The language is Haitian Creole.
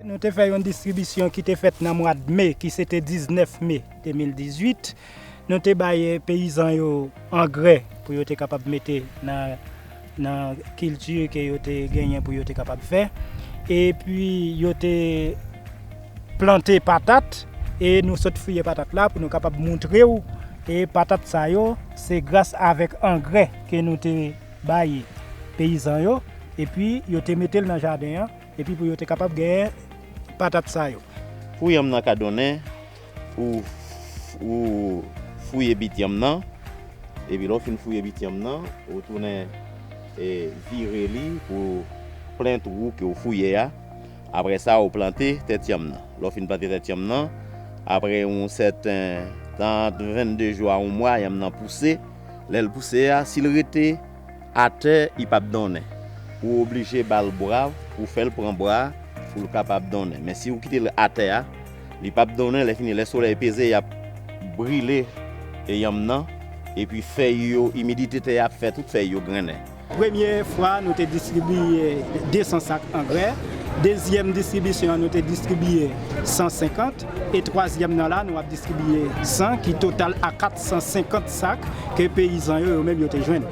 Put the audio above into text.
Nou te fè yon distribisyon ki te fèt nan mwad me ki se te 19 me 2018. Nou te bay peyizan yo angrè pou yo te kapab mete nan. nan kilti ke yo te genyen pou yo te kapab fè e pi yo te plante patat e nou sot fouye patat la pou nou kapab moutre ou e patat sa yo se gras avèk angrè ke nou te bay peyizan yo e pi yo te mete l nan jaden an e pi pou yo te kapab genyen patat sa yo. Pou yanm nan ka donnen. Ou fouye bit yanm nan, epi lè w fin fouye bit yanm nan, ou tounen vire li pou plen twou ke w fouye a. Apre sa, ou plante tèt yanm nan. Lè w fin plante tèt yanm nan, apre yon sèten tan, ant 22 jou a yon mwa, yanm nan pouse. Lè l pouse a, si l rete. Atè i pap donnen. Ou oblije ba l bra pou fè l pran bra pou l kapab donnen. Men si ou kite l atè a, li pap donnen lèfini lè solèy peze y ap brile yanm nan epi fèy yo imidite tè a ap fè tout fèy yo grennen. Premye fwa nou te distribiye 200 sak angrè, dezyèm distribisyon an nou te distribiye 150 e twazyèm nan la nou ap distribiye 100 ki total a 450 sak ke peyizan yo yo menm yo te jwenn.